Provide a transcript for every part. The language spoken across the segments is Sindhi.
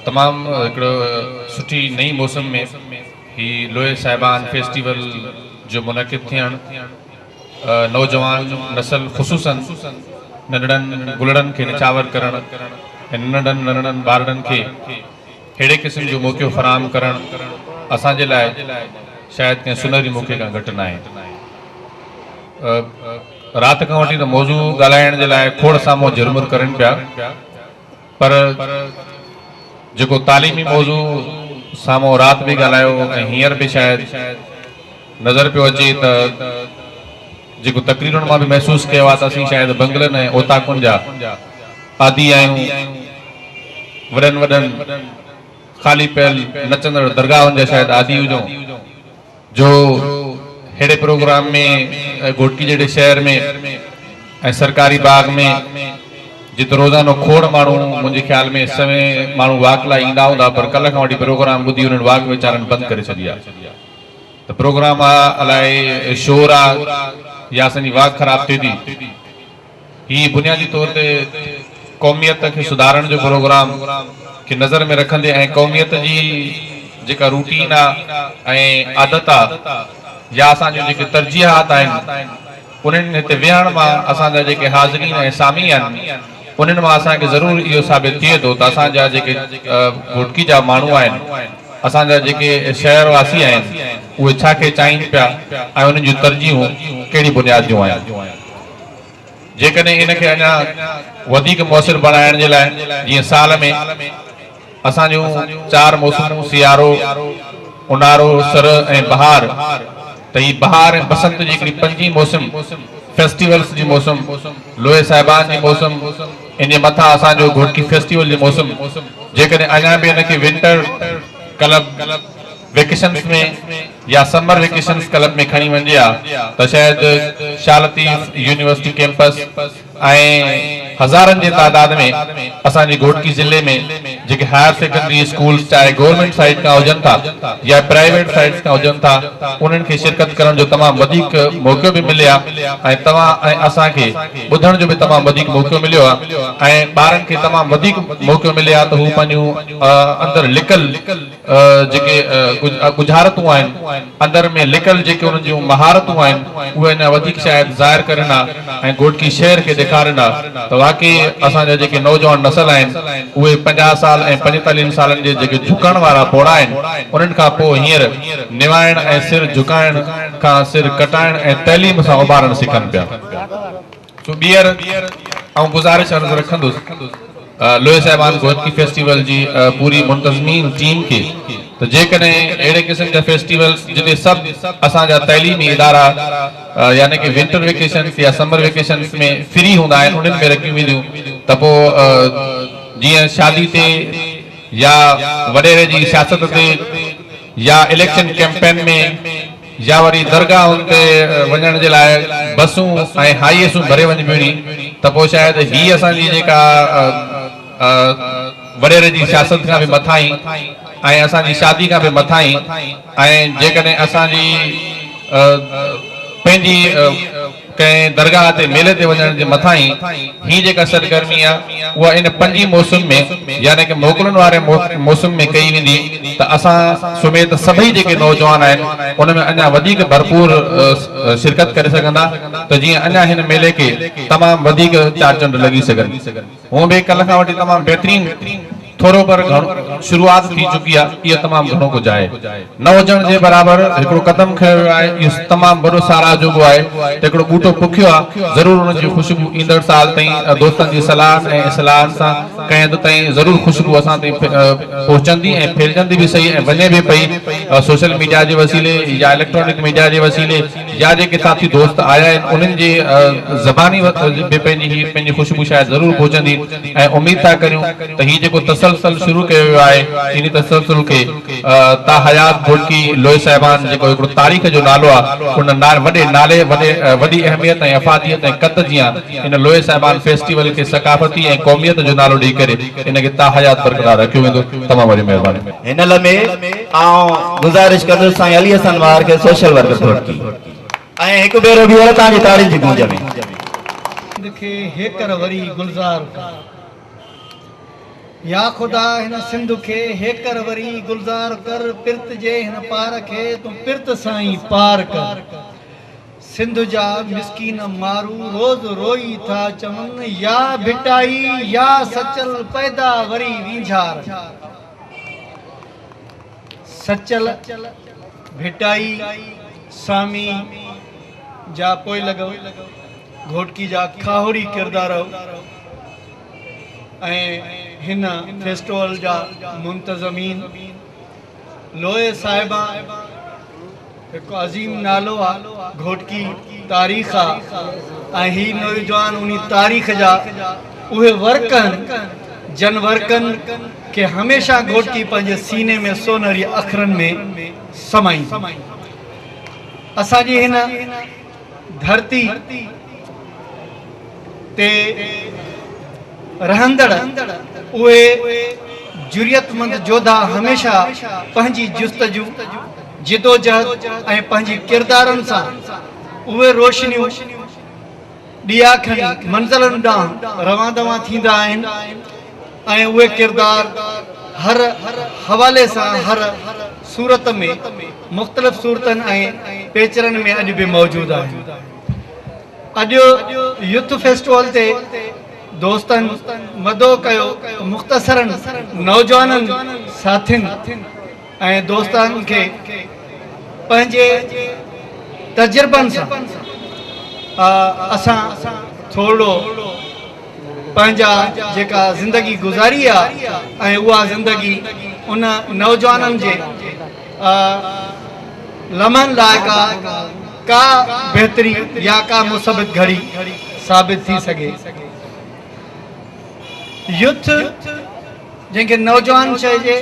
تمام هڪڙو سٺي نئين موسم ۾ هي لوهي صاحبان فيسٽيول جو منعقد ٿيڻ نوجوان نسل خصوصن ننڍڙن گلڙن کي نڇاور ڪرڻ ۽ ننڍڙن ننڍڙن ٻارڙن کي ههڙي قسم جو موقعو فراهم ڪرڻ اسان جي لاء شايد ڪنهن سونهري موقعي کان گهٽ ناهي. رات کان وٺي ته موضوع ڳالهائڻ جي لاء کوڙ سان منهن جهرمر ڪرين پيا. پر جيڪو تعليمي موضوع سامهون رات به ڳالهايو ۽ هينئر به شايد نظر پيو اچي ته جيڪو تقريرن مان به محسوس ڪيو آهي ته اسين شايد بنگلن ۽ اوطاقن جا عادي آهيون، وڏن وڏن خالي پيل نچندڙ درگاهن جا شايد عادي هجون. جو ههڙي پروگرام ۾ گهوٽڪي جهڙي شهر ۾ ۽ سرڪاري باغ ۾ جت روزانو کوڙ ماڻهو منهنجي خيال ۾ سوين ماڻهو واڪ لاء ايندا هوندا پر ڪلهه کان وٺي پروگرام ٻڌي انهن واڪ ويچارن بند ڪري ڇڏي آ ته پروگرام آ الائي شور آ يا اسان جي واڪ خراب ٿئي ٿي. هي بنيادي طور تي قوميت کي سڌارڻ جو پروگرام کي نظر ۾ رکندي ۽ قوميت جي جيڪا روٽين آ ۽ عادت آ يا اسان جون جيڪي ترجيحات آهن انهن هتي ويهڻ مان اسان جا جيڪي حاضرين ۽ سامعين آهن انهن مان اسان کي ضرور اهو ثابت ٿئي ٿو ته اسان جا جيڪي گهوٽڪي جا ماڻهو آهن اسان جا جيڪي شهر واسي آهن اهي ڇا کي چاهين پيا ۽ انهن جون ترجيحون ڪهڙي بنياد جون آهن. جيڪڏهن ان کي اڃا وڌيڪ موثر بڻائڻ جي لاء جيئن سال ۾ اسان جون چار موسمون سيارو، اونهارو، سرء ۽ بهار ته هي بهار ۽ بسنت جي هڪڙي پنجين موسم فيسٽيولز جي موسم، لوئي صاحبان جي موسم، ان جي مٿان اسان جو گهوٽڪي فيسٽيول جي موسم جيڪڏهن اڃا به ان کي ونٽر ڪلب، ويڪيشنس ۾ يا سمر ويڪيشنس ڪلب ۾ کڻي وڃجي ها ته شايد شاھ لطيف يونيورسٽي ڪيمپس ۽ هزارن جي تعداد ۾ اسان جي گهوٽڪي ضلعي ۾ جيڪي هائر سيڪنڊري اسڪولس چاهي گورنمينٽ سائيڊ کان هجن ٿا يا پرائيويٽ سائيڊس کان هجن ٿا انهن کي شرڪت ڪرڻ جو تمام وڌيڪ موقعو به ملي ها ۽ توهان ۽ اسان کي ٻڌڻ جو به تمام وڌيڪ موقعو مليو ها ۽ ٻارن کي تمام وڌيڪ موقعو ملي ها ته هو پنهنجون اندر لڪل جيڪي ڳجهارتون آهن، اندر ۾ لڪل جيڪي انهن جون مهارتون آهن، اهي اڃا وڌيڪ شايد ظاهر ڪرين ها ۽ گهوٽڪي شهر کي ڏيکارين ها ته واقعي اسان جا جيڪي نوجوان نسل آهن، اهي پنجاهه سال ۽ پنجيتاليهن سالن جي جيڪي جهڪڻ وارا پوڙها آهن، انهن کان پوء هينئر نوائڻ ۽ سر جهڪائڻ کان سر ڪٽائڻ ۽ تعليم سان اڀارڻ سکن پيا. سو ٻيهر آئون گذارش عرض رکندس لويه صاحبان گوئتڪي فيسٽيول جي پوري منتظمين ٽيم کي ته جيڪڏهن اهڙي قسم جا فيسٽيول جتي سڀ اسان جا تعليمي ادارا يعني ڪه ونٽر ويڪيشنس يا سمر ويڪيشنس ۾ فري هوندا آهن انهن ۾ رکيون وينديون ته پوء جيئن شادي تي يا وڏيري جي سياست تي يا اليڪشن ڪيمپين ۾ يا وري درگاهن تي وڃڻ جي لاء بسون ۽ هائي ايسون ڀري وڃبيون ني ته پوء شايد هي اسان جي جيڪا وڏيري جي سياست کان به مٿاهين ۽ اسان جي شادي کان به مٿاهين ۽ جيڪڏهن اسان جي پنهنجي ڪنهن درگاهه تي ميلي تي وڃڻ جي مٿانهين هي جيڪا سرگرمي آهي اها ان پنجين موسم ۾ يعني ڪه موڪلن واري موسم ۾ ڪئي ويندي ته اسان سميت سڀئي جيڪي نوجوان آهن ان ۾ اڃا وڌيڪ ڀرپور شرڪت ڪري سگهندا ته جيئن اڃا هن ميلي کي تمام وڌيڪ چار چنڊ لڳي سگهن. هونء به ڪلهه کان وٺي تمام بهترين ٿورو پر گهڻو شروعات ٿي چڪي آهي اهو تمام گهڻو ڪجهه آهي نه هجڻ جي برابر هڪڙو قدم کنيو ويو آهي اهو تمام وڏو ساراهه جوڳو آهي ته هڪڙو ٻوٽو پوکيو آهي ضرور ان جي خوشبو ايندڙ سال تائين دوستن جي صلاحن ۽ اصلاحن سان ڪنهن حد تائين ضرور خوشبو اسان تائين پهچندي ۽ ڦهلجندي به صحيح ۽ وڃي به پئي سوشل ميڊيا جي وسيلي يا اليڪٽرانڪ ميڊيا جي وسيلي جا جيڪي ساٿي دوست آيا آهن انهن جي زباني به پنهنجي هي پنهنجي خوشبو شايد ضرور پهچندي ۽ اميد ٿا ڪريون ته هي جيڪو تسلسل شروع ڪيو ويو آهي انهي تسلسل کي تا حيات گهوٽڪي لوئي صاحبان جيڪو هڪڙو تاريخ جو نالو آ ان وڏي نالي وڏي وڏي اهميت ۽ افاديت ۽ قد جيان ان لوئي صاحبان فيسٽيول کي ثقافتي ۽ قوميت جو نالو ڏئي ڪري ان کي تا حيات برقرار رکيو ويندو تمام وڏي مهرباني هن لمحي. آئون گذارش ڪندس سائين علي حسن واهر کي سوشل ورڪر گهوٽڪي ۽ هڪ ڀيرو ٻيهر توهان جي تاڙين جي گونج ۾. سنڌ کي هيڪر وري گلزار ڪر يا خدا هن سنڌ کي هيڪر وري گلزار ڪر پرت جي هن پار کي تون پرت سان ئي پار ڪر سنڌ جا مسڪين مارو روز روئي ٿا چون يا ڀٽائي يا سچل پئدا وري وينجهار سچل ڀٽائي سامي جا پوئلڳ گهوٽڪي جا کاهوڙي ڪردار ۽ هن فيسٽول جا منتظمين لويه صاحبان هڪ عظيم نالو آ، گهوٽڪي تاريخ آ ۽ هي نوجوان انهي تاريخ جا اهي ورق آهن جن ورقن کي هميشه گهوٽڪي پنهنجي سيني ۾ سونهري اکرن ۾ سمائيندو. اسان جي هن. ڌرتي تي رهندڙ اهي جرئتمند جوڌا هميشه پنهنجي جستجو، جدوجهد ۽ پنهنجي ڪردارن سان اهي روشنيون ڏيا کڻي منزلن ڏانهن روان دوان ٿيندا آهن، ۽ اهي ڪردار هر حوالي سان هر صورت ۾ مختلف صورتن ۽ پيچرن ۾ اڄ به موجود آهن. اڄ يوٿ فيسٽول تي دوستن مدعو ڪيو ته مختصرا نوجوانن ساٿين، ۽ دوستن کي پنهنجي تجربن سان اسان ٿورڙو پنهنجا جيڪا زندگي گذاري آ ۽ اها زندگي ان نوجوانن جي لمحن لائق آ ڪا بهتري يا ڪا مثبت گهڙي ثابت ٿي سگهي يوٿ جنهن کي نوجوان چئجي،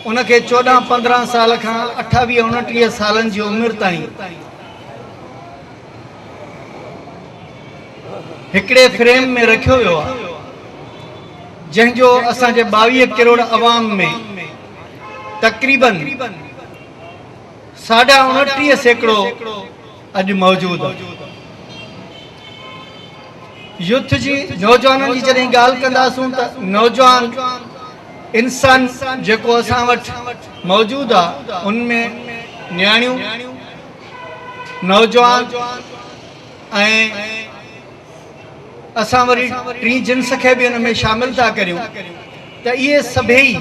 ان کي چوڏهن پندرهن سال کان اٺاويهه اڻٽيهه سالن جي عمر تائين هڪڙي فريم ۾ رکيو ويو آهي، جنهن جو اسان جي ٻاويهه ڪروڙ عوام ۾ تقريبن ساڍا اڻٽيهه سيڪڙو اڄ موجود يوٿ جي نوجوانن جي جڏهن ڳالهه ڪنداسون ته نوجوان انسان جيڪو اسان وٽ موجود آ ان ۾ نياڻيون نوجوان ۽ اسان وري ٽين جنس کي به ان ۾ شامل ٿا ڪريون ته اهي سڀيئي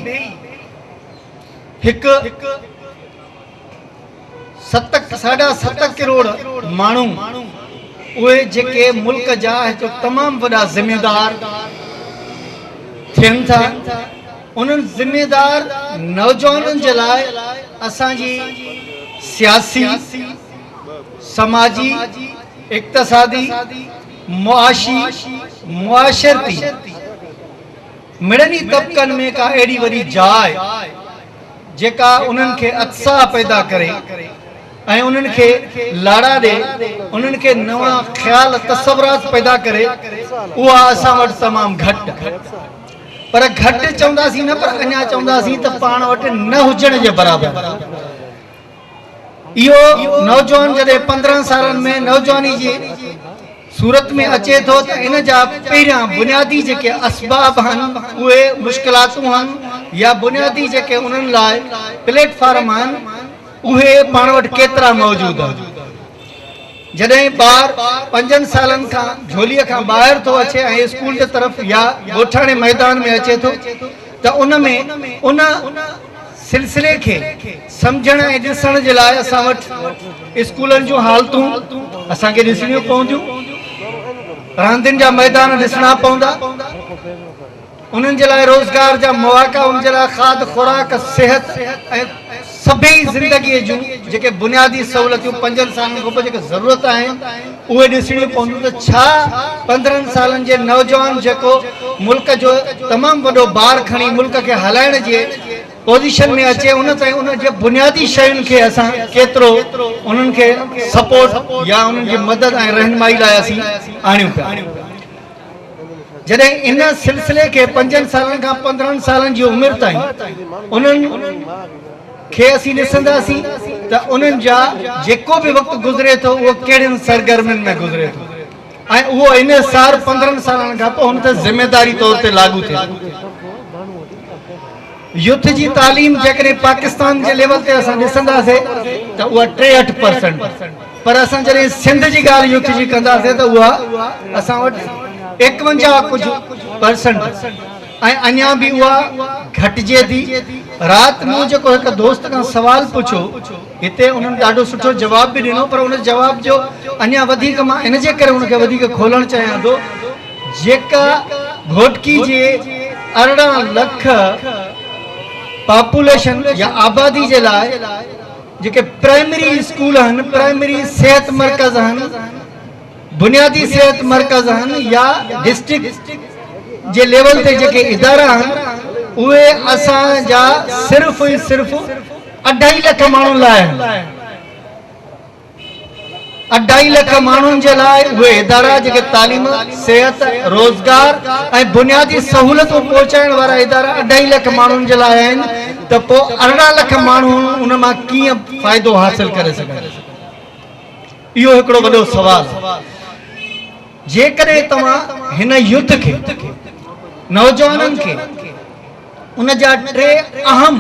هڪ ستڪ ساڍا ست ڪروڙ ماڻهو اهي جيڪي ملڪ جا هڪ تمام وڏا ذميدار ٿين ٿا انهن ذميدار نوجوانن جي لاء اسان جي سياسي سماجي اقتصادي معاشي معاشرتي مڙني طبقن ۾ ڪا اهڙي وڏي جاء جيڪا انهن کي اتساهه پيدا ڪري ۽ انهن کي لاڙا ڏئي، انهن کي نوان خيال تصورات پيدا ڪري، اها اسان وٽ تمام گهٽ پر گهٽ چونداسين نه پر اڃا چونداسين ته پاڻ وٽ نه هجڻ جي برابر اهو نوجوان جڏهن پندرهن سالن ۾ نوجواني جي صورت ۾ اچي ٿو ته ان جا پهريان بنيادي جيڪي اسباب هن اهي مشڪلاتون هن يا بنيادي جيڪي انهن لاء پليٽ فارم هن اهي پاڻ وٽ ڪيترا موجود هن جڏهن ٻار پنجن سالن کان جهولي کان ٻاهر ٿو اچي ۽ اسڪول جي طرف يا ڳوٺاڻي ميدان ۾ اچي ٿو ته ان ۾ ان سلسلي کي سمجهڻ ۽ ڏسڻ جي لاء اسان وٽ اسڪولن جون حالتون اسان کي ڏسڻيون پونديون، راندين جا ميدان ڏسڻا پوندا، انهن جي لاء روزگار جا مواقع، ان جي لاء کاڌ خوراڪ، صحت ۽ سڀيئي زندگيء جون جيڪي بنيادي سهولتيون پنجن سالن کانپوء جيڪي ضرورت آهن، اهي ڏسڻيون پونديون ته ڇا پندرهن سالن جي نوجوان جيڪو ملڪ جو تمام وڏو بار کڻي ملڪ کي هلائڻ جي پوزيشن ۾ اچي ان تائين ان جي بنيادي شين کي اسان ڪيترو انهن کي سپورٽ يا انهن جي مدد ۽ رهنمائي لاء اسين آڻيون پيا جڏهن ان سلسلي کي پنجن سالن کان پندرهن سالن جي عمر تائين انهن کي اسين ڏسنداسين ته انهن جا جيڪو به وقت گذري ٿو اهو ڪهڙين سرگرمين ۾ گذري ٿو ۽ اهو انحصار پندرهن سالن کان پوء هن تي ذميواري طور تي لاڳو ٿئي ٿو. يوٿ جي تعليم جيڪڏهن پاڪستان جي ليول تي اسان ڏسنداسي ته اها ٽيهٺ پرسنٽ پر اسان جڏهن سنڌ جي ڳالهه يوٿ جي ڪنداسي ته اها اسان وٽ ايڪونجاهه ڪجهه پرسنٽ ۽ اڃان به اها گهٽجي ٿي. رات مون جيڪو هڪ دوست کان سوال پڇيو، هتي انهن ڏاڍو سٺو جواب به ڏنو پر ان جواب جو اڃان وڌيڪ مان ان جي ڪري ان کي وڌيڪ کولڻ چاهيان ٿو جيڪا گهوٽڪي جي ارڙهن لک پاپوليشن يا آبادي جي لاء جيڪي پرائمري اسڪول هن پرائمري صحت مرڪز هن بنيادي صحت مرڪز آهن يا ڊسٽرڪٽ جي ليول تي جيڪي ادارا آهن اهي اسان جا صرف ۽ صرف اڍائي لک ماڻهن لاء آهن. اڍائي لک ماڻهن جي لاء اهي ادارا جيڪي تعليم، صحت، روزگار ۽ بنيادي سهولتون پهچائڻ وارا ادارا اڍائي لک ماڻهن جي لاء آهن ته پوء ارڙهن لک ماڻهو ان مان ڪيئن فائدو حاصل ڪري سگهن. اهو هڪڙو وڏو سوال آهي. جيڪڏهن توهان هن يوٿ کي، نوجوانن کي، ان جا ٽي اهم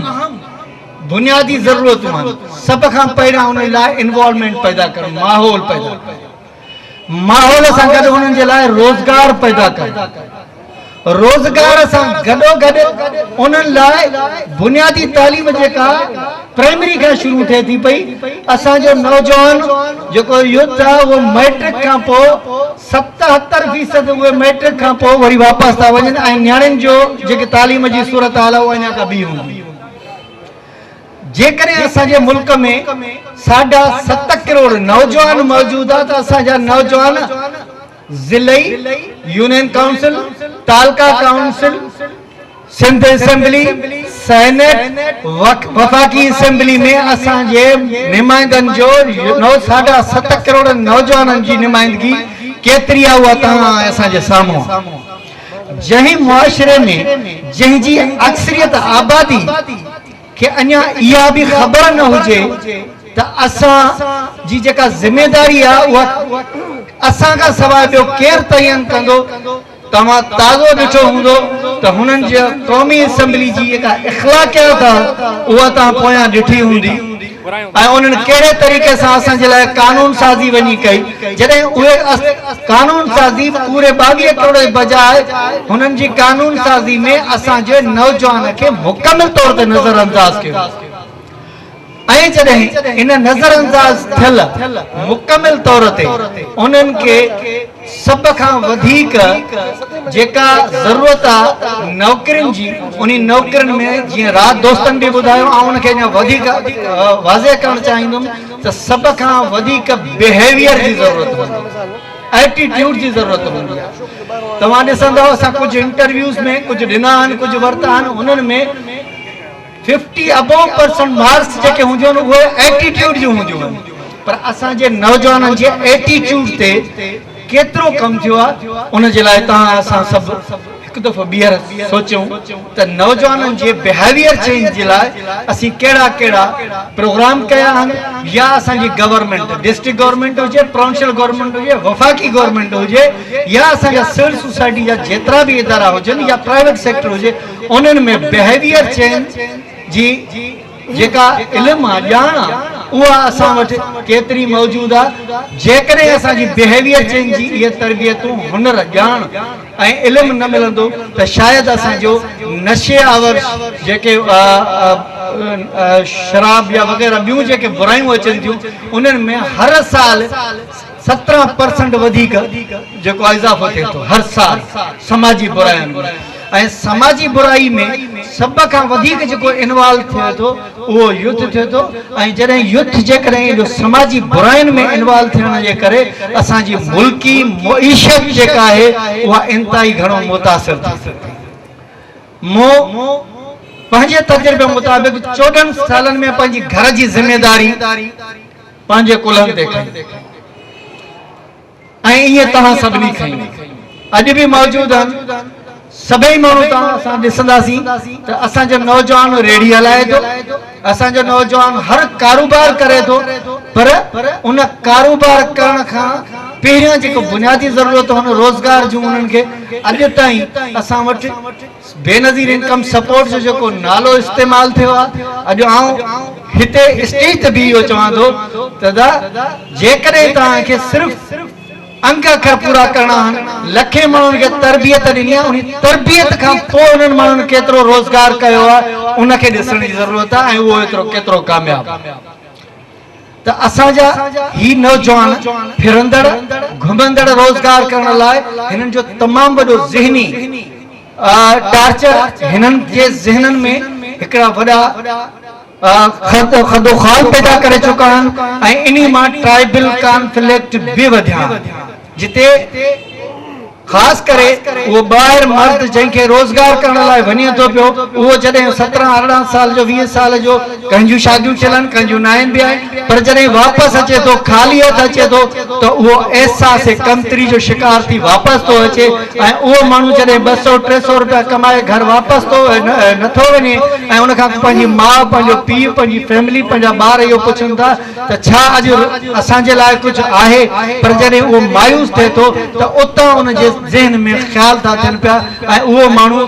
بنيادي ضرورتون آهن. سڀ کان پهريان انهن لاء انوالومينٽ پيدا ڪرڻ، ماحول پيدا ڪرڻ. ماحول سان گڏ انهن جي لاء روزگار پيدا ڪرڻ. روزگار سان گڏوگڏ انهن لاء بنيادي تعليم جيڪا پرائمري کان شروع ٿئي ٿي پئي، اسان جو نوجوان جيڪو يوٿ آهي اهو مئٽرڪ کان پوء ستهتر فيصد اهي مئٽرڪ کان پوء وري واپس ٿا وڃن ۽ نياڻين جو جيڪي تعليم جي صورتحال آهي اها اڃا ڪا ٻي هوندي. جيڪڏهن اسان جي ملڪ ۾ ساڍا ست ڪروڙ نوجوان موجود آهي ته اسان جا نوجوان ضلعي يونين ڪائونسل، تعلقه ڪائونسل، سنڌ اسيمبلي، سينيٽ، وفاقي اسيمبلي ۾ اسان جي نمائندن جو نو ساڍا ست ڪروڙ نوجوانن جي نمائندگي ڪيتري آ اها توهان اسان جي سامهون آ. جنهن معاشري ۾ جنهن جي اڪثريت آبادي کي اڃا اها به خبر نه هجي ته اسان جي جيڪا ذميداري آهي اها اسان کان سواء ٻيو ڪير تعين ڪندو؟ توهان تازو ڏٺو هوندو ته هنن جي قومي اسيمبلي جي جيڪا اخلاقيات آهي اها توهان پويان ڏٺي هوندي. ۽ انهن ڪهڙي طريقي سان اسان جي لاء قانون سازي وڃي ڪئي جڏهن اهي اس قانون سازي پوري ٻاويهه ڪروڙ جي بجاء هنن جي قانون سازي ۾ اسان جي نوجوان کي مڪمل طور تي نظر انداز ڪيو ۽ جڏهن ان نظر انداز ٿيل مڪمل طور تي انهن کي سڀ کان وڌيڪ جيڪا ضرورت آ نوڪرين جي انهي نوڪرين ۾ جيئن رات دوستن به ٻڌايو آئون ان کي اڃا وڌيڪ واضح ڪرڻ چاهيندم ته سڀ کان وڌيڪ بيهيويئر جي ضرورت هوندي آ ايٽي ٽيوڊ جي ضرورت هوندي آ توهان ڏسندؤ اسان ڪجهه انٽرويوز ۾ ڪجهه ڏنا آهن ڪجهه ورتا آهن انهن ۾ ففٽي ابو پرسنٽ مارڪس جيڪي هونديون آهن اهي ائٽيٽيوڊ جون هونديون آهن پر اسان جي نوجوانن جي ائٽيٽيوڊ تي ڪيترو ڪم ٿيو آهي ان جي لاء توهان اسان سڀ هڪ دفعو ٻيهر سوچيون ته نوجوانن جي بيهيويئر چينج جي لاء اسين ڪهڙا ڪهڙا پروگرام ڪيا آهن يا اسان جي گورنمينٽ ڊسٽرڪٽ گورنمينٽ هجي پرونشل گورنمينٽ هجي وفاقي گورنمينٽ هجي يا اسان جا سول سوسائٽي جا جيترا به ادارا هجن يا پرائيويٽ سيڪٽر هجي انهن ۾ بهيويئر چينج جي جيڪا علم آ، ڄاڻ آ، اها اسان وٽ ڪيتري موجود آ؟ جيڪڏهن اسان جي بهيويئر چينج جي اهي تربيتون، هنر، ڄاڻ ۽ علم نه ملندو ته شايد اسان جو نشي آور جيڪي شراب يا وغيره ٻيون جيڪي برايون اچن ٿيون، انهن ۾ هر سال. سترهن پرسنٽ وڌيڪ جيڪو آهي اضافو ٿئي ٿو هر سال سماجي براين ۾ ۽ سماجي برائي ۾ سڀ کان وڌيڪ جيڪو انوالو ٿئي ٿو اهو يوٿ ٿئي ٿو ۽ جڏهن يوٿ جيڪڏهن اهو سماجي براين ۾ انوالو ٿيڻ جي ڪري اسان جي ملڪي معيشت جيڪا آهي اها انتهائي گهڻو متاثر ٿي سگهي ٿي مون پنهنجي تجربي مطابق چوڏهن سالن ۾ پنهنجي گهر جي ذميداري پنهنجي ڪلهن تي کنئي ۽ ائين توهان سڀني کنئي. اڄ به موجود آهن. سڀئي ماڻهو توهان اسان ڏسنداسين ته اسان جو نوجوان ريڙهي هلائي ٿو، اسان جو نوجوان هر ڪاروبار ڪري ٿو پر ان ڪاروبار ڪرڻ کان پهريان جيڪو بنيادي ضرورتون آهن روزگار جون انهن کي اڄ تائين اسان وٽ بينظير انڪم سپورٽ جو جيڪو نالو استعمال ٿيو آهي اڄ آئون هتي اسٽيج تي بيهي اهو چوان ٿو ته ادا جيڪڏهن توهان کي صرف انگ اکر پورا ڪرڻا آهن لکين ماڻهن کي تربيت ڏني آهي انهي تربيت کان پوء انهن ماڻهن ڪيترو روزگار ڪيو آهي ان کي ڏسڻ جي ضرورت آهي ۽ اهو ايترو ڪيترو ڪامياب ته اسان جا هي نوجوان ڦرندڙ گهمندڙ روزگار ڪرڻ لاء هنن جو تمام وڏو ذهني ٽارچر هنن جي ذهنن ۾ هڪڙا وڏا خدوخال پيدا ڪري چڪا آهن ۽ انهي مان ٽرائبل ڪانفليڪٽ به وڌيا آهن. جتي خاص ڪري اهو ٻاهر مرد جنهن کي روزگار ڪرڻ لاء وڃي ٿو پيو اهو جڏهن سترهن ارڙهن سال جو ويهه سال جو ڪنهن جون شاديون ٿيل آهن ڪنهن جون ناهن به آهن پر جڏهن واپس اچي ٿو خالي هٿ اچي ٿو ته اهو احساس ڪمتري جو شڪار ٿي واپس ٿو اچي ۽ اهو ماڻهو جڏهن ٻه سئو ٽي سئو روپيا ڪمائي گهر واپس ٿو نٿو وڃي ۽ ان کان پنهنجي ماء پنهنجو پيء پنهنجي فيملي پنهنجا ٻار اهو پڇن ٿا ته ڇا اڄ اسان جي لاء ڪجهه آهي؟ پر جڏهن اهو مايوس ٿئي ٿو ته اتان ان جي ذهن ۾ خيال ٿا اچن پيا ۽ اهو ماڻهو